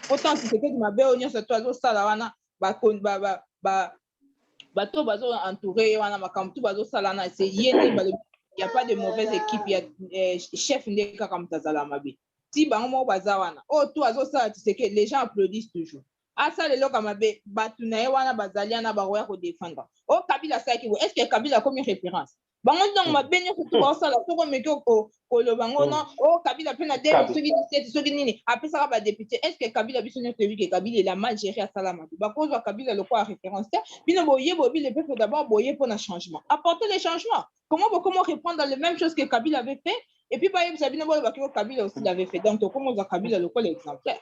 mpo ntango tisekedi mabe oyo nyonso to azosala wana bato oyo bazo entoure ye wana makambo tu bazosala na se ye nde balobi ya pas de mauvaise équipe ya eh, chef nde kaka moto azala mabe ti bango moko baza wana oyo tu azosala tiseke les gens applaudissent toujours asala eloko ya mabe bato na ye wana bazali wana bakoya kodefendre o kabila asalaki boye est ce que kabila akomi référence bango ntango hmm. mabe nyonso tu baosala hmm. soki omeki koloba ngo no hmm. o oh, kabila mpe na deni soki diseti soki nini apesaka badepute est ce que kabila biso nyonso toyebi ke kabila ela mal géré asala mabe bakozwa kabila lokola référence te bino boye boyebi le peuple d'abord boye mpo na changement apporter le changement comment bokomo reprendre le même chose que kabila avait fait et puis bayebisa bino boye bakio kabila aussi l'avait fait donc tokomoza kabila lokola exemplaire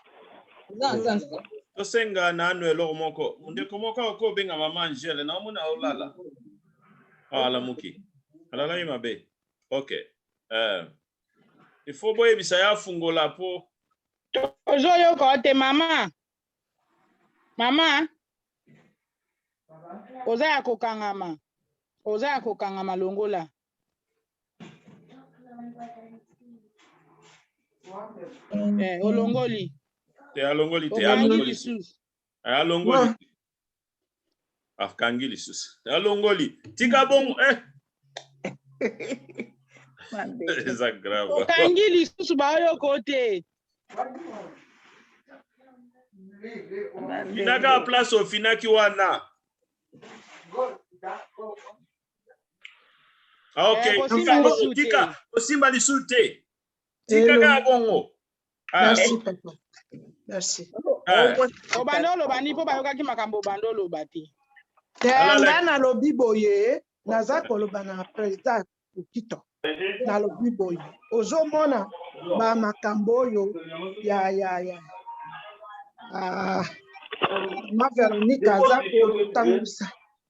eza na sens te tosenga nanu eloko moko ndeko moko akoki obenga mama angele naomona olala ah, alamuki alalaki mabe ok euh, il faut boyebisa ye afungola mpo tozoyoka te mama mama oza ya kokangama oza ya kokangama longola Eh, olongoli te alongoli te alongoli lisusu eh, alongoli akangi lisusu alongoli tika bongo eh. eza grave okangi lisusu baoyoko te finaka place ofinaki wana Ah, ok, Eh, kosimba Ntango lisusu te. otika kosimba lisusu te. Tika Hello. kaka bongo. Ah, Merci, papa. Merci. ah. obanda oloba nini mpo bayokaki makambo obanda oloba te Te, Alala. nga nalobi boye naza koloba na president okito nalobi boye ozomona ba makambo oyo ya ya ya ah, ma veronika aza kotangisa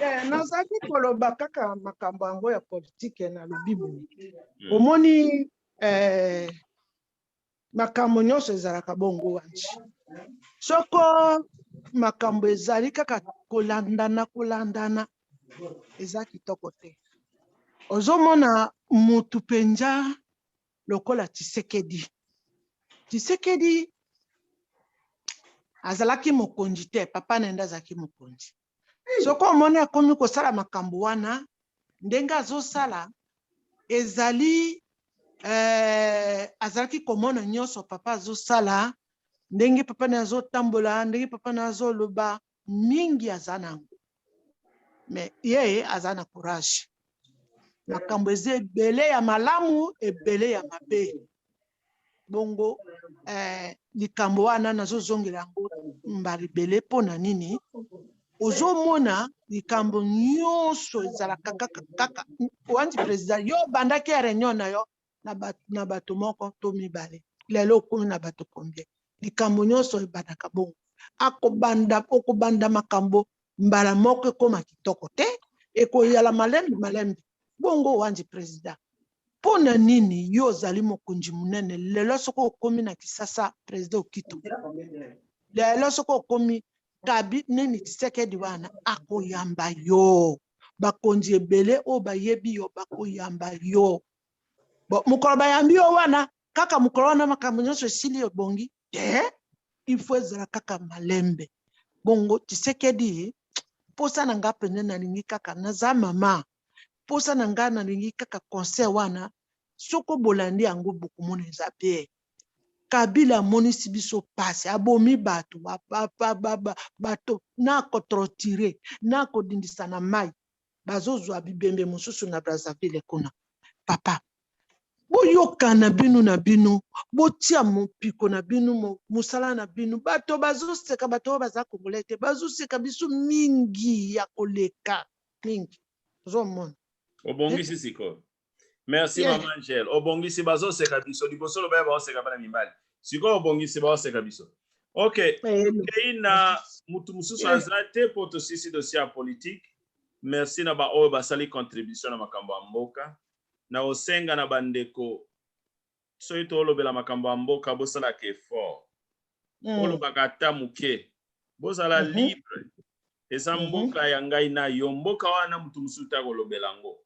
Eh, nazali koloba kaka makambo yango ya politike na lobi boye hmm. omoni eh, makambo nyonso ezalaka bongo wanji soko makambo ezali kaka kolandana kolandana eza kitoko te ozomona mutu mpenza lokola tshisekedi tshisekedi azalaki mokonzi te papa na yende azalaki mokonzi soki omoni akomi kosala makambo wana ndenge azosala ezali eh, azalaki komona nyonso papa azosala ndenge papa na azotambola ndenge papa na azoloba mingi aza na yango mais ye aza na courage makambo eza ebele ya malamu ebele ya mabe bongo eh, likambo wana nazozongela yango mbala ebele mpo na nini ozomona likambo nyonso ezalaka kaka kaka wanzi president yo obandaki ya reunion na yo na bato na bato moko to mibale lelo okomi na bato combien likambo nyonso ebandaka bongo akobanda okobanda makambo mbala moko ekoma kitoko te ekoyala malembe malembe bongo wanji president mpo na nini yo ozali mokonzi monene lelo soki okomi na kisasa president okito lelo soki okomi kabi nini kisekedi wana akoyamba yo bakonzi ebele oyo bayebi yo bakoyamba yo Bon, mokolo bayambi yo wana kaka mokolo wana makambo nyonso esili ebongi te il faut ezala kaka malembe bongo tisekedi mposa na nga mpenza nalingi kaka naza mama mposa na nga nalingi kaka concert wana soko bolandi yango bokomona eza bien kabila amonisi biso mpasi abomi bato bato na kotrotire na kodindisa na mai bazozwa bibembe mosusu na Brazzaville kuna. Papa, boyokana bino na bino, botia mopiko na bino, mosala na bino. Bato bazoseka, bato oyo baza Congolais te, bazoseka biso mingi ya koleka mingi. Ozomona? Obongisi sikoyo. merci yeah. mama angel obongisi bazoseka biso liboso loba ya baoseka bana mibali sikoyo obongisi baoseka biso ok okei na motu mosusu aza te mpo tosisi dosie ya politike merci na baoyo basali contribution na makambo ya mboka na osenga na bandeko Soki tolobela makambo ya mboka bosalaka effort. Bolobaka ata muke. Bozala libre. Eza mboka ya ngai na yo. Mboka wana mutu mususu te akolobela yango.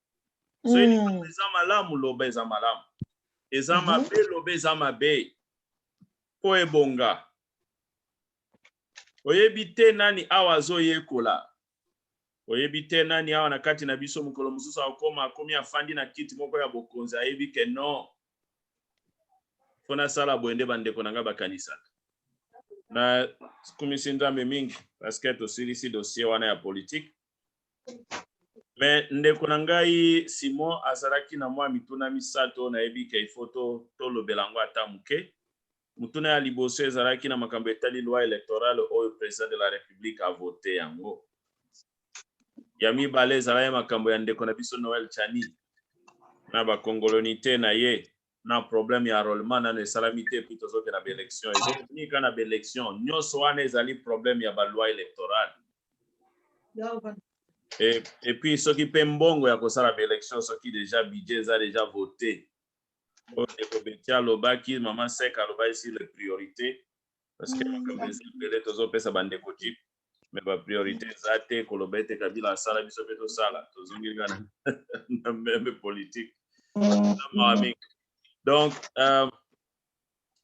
Soki likambo eza malamu loba eza malamu. Eza mabe loba eza mabe. Po ebonga. Oyebi te nani awa azoyekola. Oyebi te nani awa na kati na biso mokolo mosusu akokoma akomi afandi na kiti moko ya bokonzi, ayebi ke non, mpo nasala boye nde bandeko na ngai bakanisaka. Nakumisi Nzambe mingi paske tosilisi dosie wana ya politike. Me ndeko na ngai Simon azalaki na mwa mituna misato oyo nayebi ke ifo tolobela yango ata moke. Motuna ya liboso ezalaki na makambo etali loi electorale oyo President de la Republique a voter yango. Ya mibale ezalaki makambo ya ndeko na biso Noel Tshani na ba congolonite na ye na problème ya enrôlement nano esalami te puis tozokenda ba élection ezokonika na ba élection nyonso wana ezali problème ya ba loi électorale et, et puis soki mpe mbongo ya kosala ba élection soki déjà budget eza déjà voté oyo ndeko beti alobaki mama sek alobaki sur les priorités parce que makambo eza ebele tozopesa bandeko jeep me bapriorité eza te koloba ete kabila asala biso mpe tosala tozongi kaka na meme politique na mawa mingi donc euh,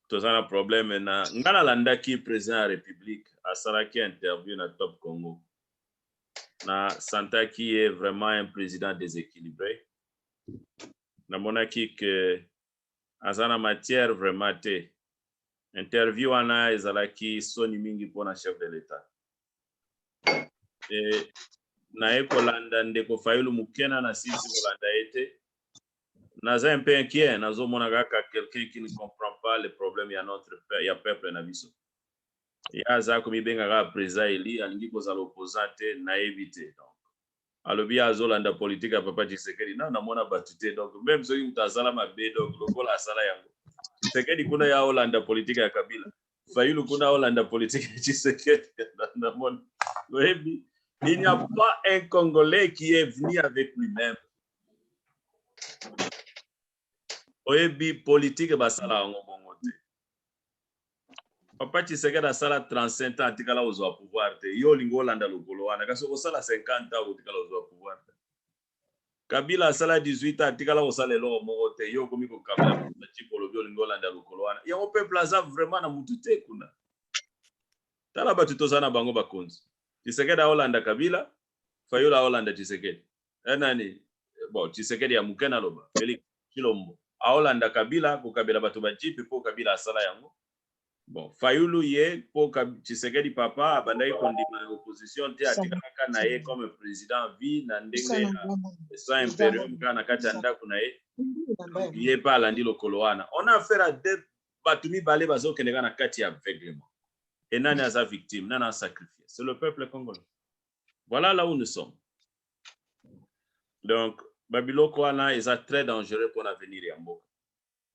toza na problème na ngai nalandaki président ya république asalaki interview na top congo na santaki ye vraiment un président déséquilibré namonaki que aza na matière vraiment te. Interview wana ezalaki soni mingi pona chef de l'etat. Et naye kolanda ndeko Fayulu muke na nasilisi kolanda ye te. Naza un peu inquiet, nazomona kaka quelqu'un qui ne comprend pas le problème ya notre ya peuple na biso. Ye aza komibenga kaka president elu, alingi kozala opposant te, nayebi te donc. alobi ye azolanda politique ya papa Tshisekedi nanu namona batu te donc meme soki mutu asala mabe donc lokola asala yango Tshisekedi kuna ye aolanda politique ya Kabila Fayulu kuna aolanda politique ya Tshisekedi namona oyebi il n'y a pas un Congolais qui est venu avec lui-même oyebi politique basala yango bongo te papa tshisekedi asala 35 ans atikala kozwa pouvoir te yo olingi olanda lokolo wana kasi okosala 50 ans okotikala kozwa pouvoir te kabila asala 18 ans atikala kosala eloko moko te yo okomi kokabela matiko olobi olingi olanda lokolo wana yango peuple aza vraiment na mutu te kuna tala bato toza na bango bakonzi tshisekedi aolanda kabila fayula aolanda tshisekedi eh, nani eh, bon tshisekedi ya moke naloba felix chilombo aolanda kabila kokabela bato bajipe mpo kabila asala yango bon fayulu ye mpo tshisekedi papa abandaki kondima opposition te atikalaka na ye comme président vie na ndenge soin imperium kaka na kati ya ndako na ye ye mpe alandi lokolo wana on a affaire à deux bato mibale bazokendeka na kati ya aveuglement e nani aza victime nani asacrifie c'est le peuple congolais Voilà là où nous sommes. Donc, babiloko wana eza très dangereux pour l'avenir ya mboka.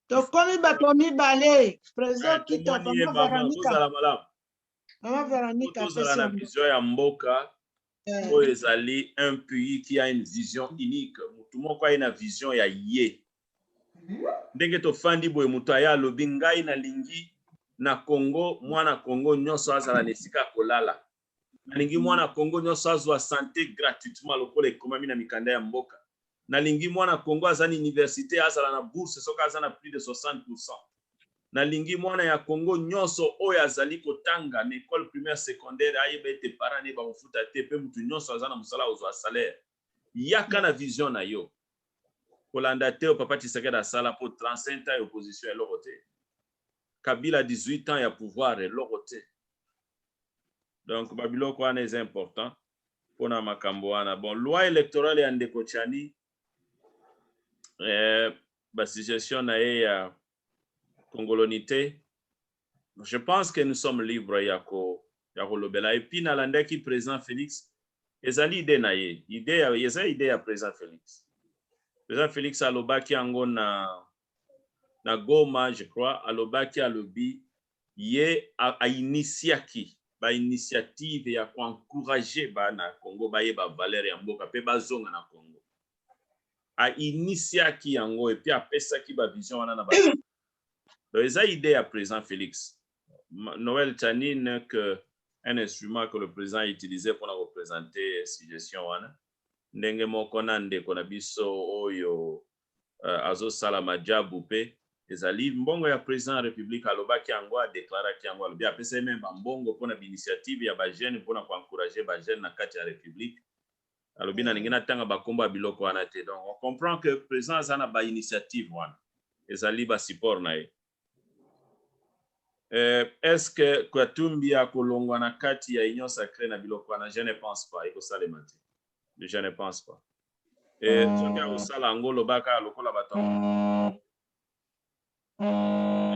tokomi bato ya mibale president Eh, kita tomoni ye, mama mama, veronica tozala malamu. mama veronica Faut tozala apesi na yango vision ya mboka Eh, oyo ezali un pays qui a une vision unique motu moko aye na vision ya ye ndenge tofandi boye motu aye alobi ngai nalingi na congo mwana congo nyonso azala na esika ya kolala Nalingi mwana Congo nionso azua sante gratuitement lokola ekomami na mikanda ya mboka. Nalingi mwana Congo aza na universite azala na bourse soki aza na plus de 60 pourcent. Nalingi mwana ya Congo nionso oyo azali kotanga na ecole primaire, secondaire ayeba ete parents na ye bakofuta te mpe mutu nionso aza na mosala akozua salaire. Yaka na vision na yo. Kolanda te oyo papa Tshisekedi asala mpo 35 ans ya opposition eloko te. kabila 18 ans ya pouvoir eloko te donc babiloko wana eza important mpona makambo wana bon loi électorale ya ndeko chani eh, basuggestion na ye ya congolonité je pense que nous sommes libres ya ko ya kolobela epuis nalandaki président félix ezali ide na ye ide eza ide ya président félix président félix alobaki yango na na Goma je crois alobaki alobi ye a initiaki ba initiative ya ko encourager bana ya Congo bayeba valeur ya mboka pe bazonga na Congo a initiaki yango et puis apesaki ba vision wana na ba donc eza idee ya president Felix Noël Tani n'est que un instrument que le président a utilisé pour la représenter suggestion wana ndenge moko na ndeko na biso oyo euh, azosala majabu pe ezali mbongo ya president ya republique alobaki yango adeklaraki yango alobi apesa ye meme bambongo mpo na bainitiative ya bajeune mpo na koencourage bajeune na kati ya republique alobi mm. nalingi natanga bakombo ya biloko wana te donc on comprend que president aza na bainitiative wana ezali basupport na ye Euh, est-ce que Katumbi akolongwa na kati ya Union Sacrée na biloko wana? Je ne pense pas, ekosalema te. Je ne pense pas. Et mm. soki akosala yango lobaka lokola bato mm. euh,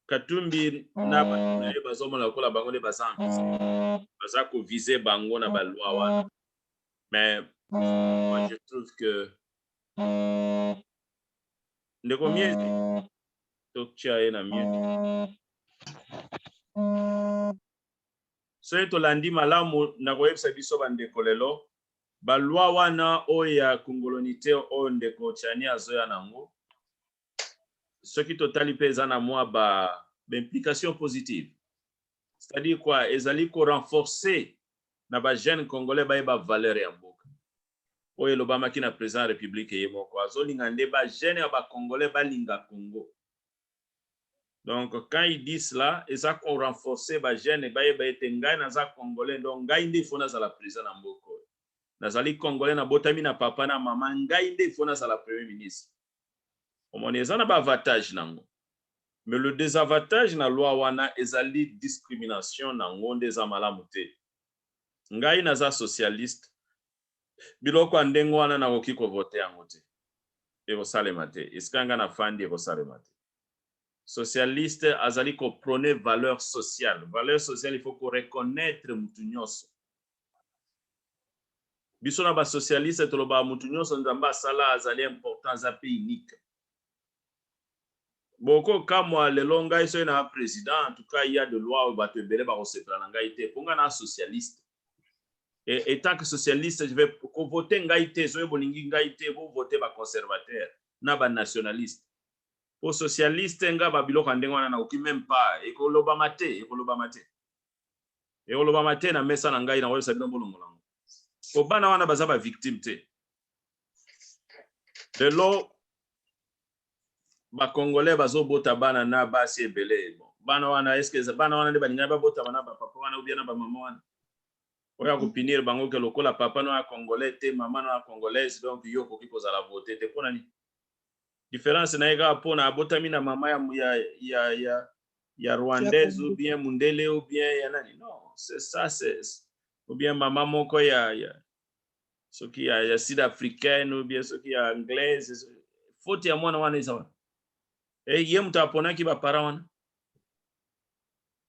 Katumbi na bato na ye bazomona lokola bango nde baza ampisi, mm. baza kovise bango na balwa wana. Mais moi je trouve que Ndeko Miezi, totya ye na mute. Soki tolandi malamu, nakoyebisa biso bandeko lelo balwa wana oyo ya kongolonite oyo ndeko Chani azoya nango, soki totali mpe eza na mwa ba implication positive c'est-à-dire quoi ezali ko renforcer na ba jeunes congolais bayeba valeur ya mboka oyo elobamaki na president ya republique ye moko azolinga nde ba jeune ya ba congolais balinga congo donc quand il dit cela eza ko renforcer ba jeune bayeba ete ngai naza congolais donc ngai nde il faut nazala president na mboka oyo nazali congolais nabotami na papa na maman ngai nde il faut nazala premier ministre omoni eza na ba avantage nango mais le desavantage na loi wana ezali discrimination nango nde eza malamu te Ngai naza socialiste, biloko ya ndenge wana nakoki ko voter yango te. Ekosalema te. Esika ngai nafandi ekosalema te. Socialiste azali ko proner valeur sociale. Valeur sociale il faut ko reconnaitre mutu nionso. Biso na ba socialiste tolobaka mutu nionso Nzambe asala azali important, aza pe unique. Boko kamwa lelo ngai soki na president en tout cas il ya de loi oyo batu ebele bako sepela na ngai te po ngai na socialiste et etant que socialiste je vais ko voter ngai te soki bolingi ngai te bo voter ba conservateurs na ba nationalistes po socialiste ngai ba biloko ya ndenge wana na koki meme pas eko lobama te eko lobama te eko lobama te na mesa na ngai na ko yebisa bino bolongola yango po bana wana baza ba victime te lelo bakongolais bazobota bana na basi ebele bon bana wana eske bana wana nde balingaki babotama na bapapa wana obia na bamama wana oyo akopinire bango ke lokola papa no ya congolais te mama no ya congolaise donc yo okoki kozala vote te mpo na nini difference na ye kaka mpo na abotami na mama ya, ya, ya, ya, ya rwandaise ou bien mundele ou bien ya nani non c'est ça c'est ou bien mama moko ya, ya, soki ya, ya sud africaine ou bien soki ya anglaise faute ya mwana wana eza wana e ye moto aponaki baparent wana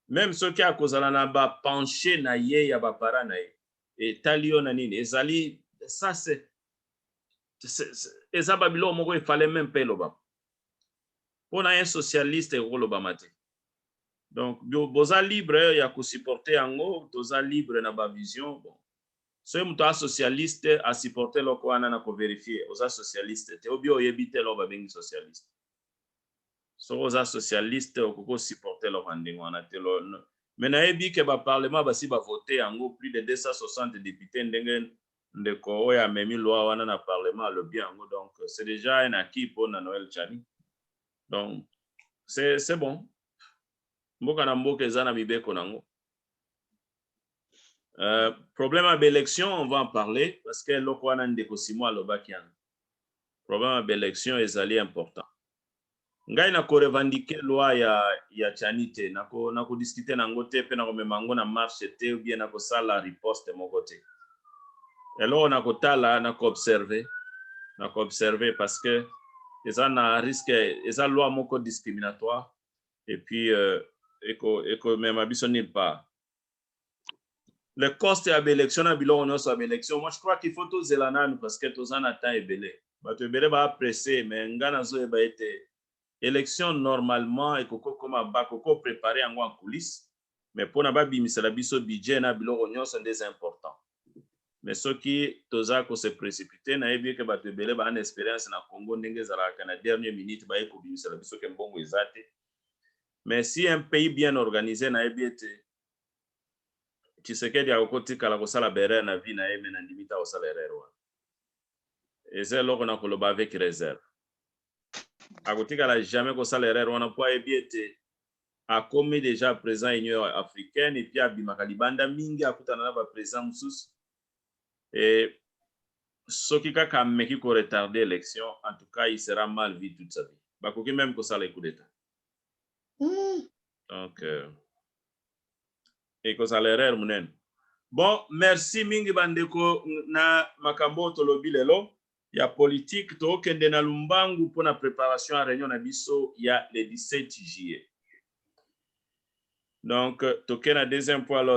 meme soki akozala na bapenche na ye ya baparent na ye etali yo na nini ezali ça c'est eza babiloko moko efale meme mpe elobama mpo na ye socialiste ekolobama te donc boza libre ya kosupporte yango toza libre na bavision bon Soki moto aza socialiste a supporter eloko wana na ko verifier oza socialiste te ou bien oyebi te eloko ba bengi socialiste. Soki oza socialiste okoki ko supporter eloko ya ndenge wana te mais nayebi que ba parlement basi ba voter yango plus de 260 deputes ndenge ndeko oyo amemi loi wana na parlement alobi yango donc c'est dejà un acquis pona Noël Tshani donc c'est bon mboka na mboka eza na mibeko na yango. Euh, problème à l'élection, on va en parler parce que eloko wana ndeko Simon alobaki yana. Problème à l'élection ezali important. Ngai na ko revendiquer loi ya ya Chani te, na ko na ko discuter na ngo te pe na ko mema ngo na marche te ou bien na ko sala riposte moko te. Eloko na ko tala na ko observer, na ko observer parce que eza na risque eza loi moko discriminatoire et puis euh, eko eko mema biso nulle part. le coste ya ba election na biloko nionso ya ba election moi je crois qu'il faut tozela nanu parce que toza na temps ebele batu ebele ba presse mais nga nazoyeba ete election normalement ekoki kokoma bakoki ko preparer yango en coulisse mais pona babimisela biso budget na biloko nionso nde eza important mais soki toza ko se precipiter nayebi eke batu ebele ba na experience na Congo ndenge ezalaka na dernier minute baye kobimisela biso ke mbongo eza te mais si un pays bien organise nayebi ete Tshisekedi akoki kotikala kosala ba erreur na vie na ye mais nandimi te akosala erreur wana eza eloko na koloba avec reserve akotikala jamais kosala erreur wana mpo ayebi ete akomi deja président ya union africaine epuis abimaka libanda mingi akutana na baprésident mosusu e soki kaka ameki koretarde élection en tout cas il sera mal vie toute sa vie bakoki meme kosala ye coup d'état Hmm. Donc, euh, ekozala erreur munene. Bon, merci mingi bandeko na makambo oyo tolobi lelo ya politique. Tokende na Lumbangu mpo na preparation ya reunion na biso ya le 17 juillet. Donc, toke na deuxième point l'ordre.